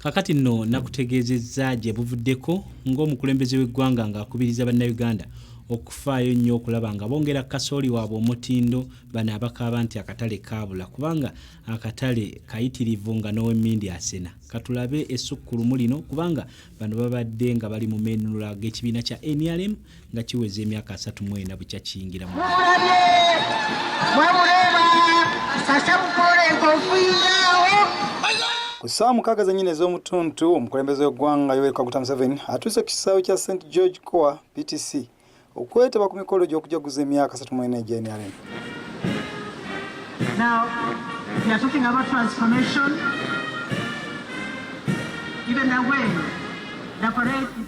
Kakati nno nakutegeezezza gye buvuddeko ng'omukulembeze w'eggwanga ng'akubiriza Bannayuganda okufaayo nnyo okulaba nga bongera kasooli waabwe omutindo bano abakaaba nti akatale kaabula kubanga akatale kayitirivu nga n'owemmindi asena katulabe essukkulumu lino kubanga bano babadde nga bali mu meenunula g'ekibiina kya nrm nga kiweza emyaka asatu mu ena bukya kiyingira mu ku ssaawa mukaaga zennyini ez'omutuntu omukulembeze w'eggwanga yoweri kaguta museveni atuuse ku kisaawe kya st george coa ptc okwetaba ku mikolo gy'okujaguza emyaka asatu mu ena egyenrm Now, we are talking about transformation. Even the way the parade is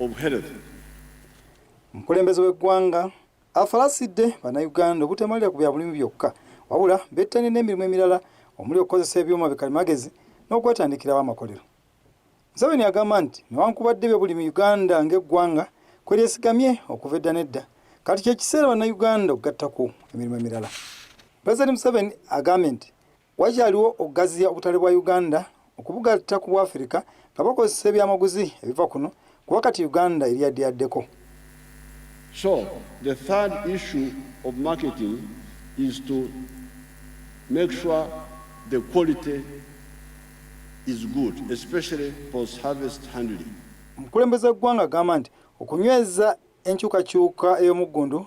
of health. Omukulembeze w'eggwanga afalasidde bannayuganda obutamalira ku bya bulimi byokka wabula bettanye n'emirimu emirala omuli okukozesa ebyuma bikalimagezi n'okwetandikirawo amakolero. Museveni agamba nti newankubadde ebyobulimi Uganda ng'eggwanga kwe lyesigamye okuva edda n'edda, kati kye kiseera bannayuganda okugattako emirimu emirala. Pulezidenti Museveni agambye nti Wakyaliwo okugaziya obutale bwa Uganda okubugatta ku Bwafirika nga bakozesa ebyamaguzi ebiva kuno kuba kati Uganda eri yaddeyaddeko. So the third issue of marketing is to make sure the quality is good, especially post harvest handling. Omukulembeze w'eggwanga agamba nti okunyweza enkyukakyuka ey'omuggundu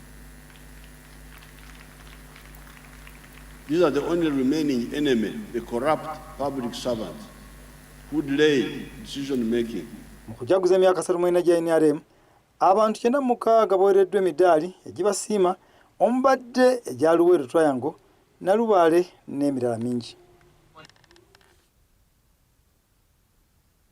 These are the only remaining enemy, the corrupt public servants who delay decision making. Mu kujaguza emyaka satu mwenda gya NRM, abantu kyenda mukaaga baweereddwa emidaali egibasiima omubadde egya Luweero Triangle, Nalubaale n'emirala mingi.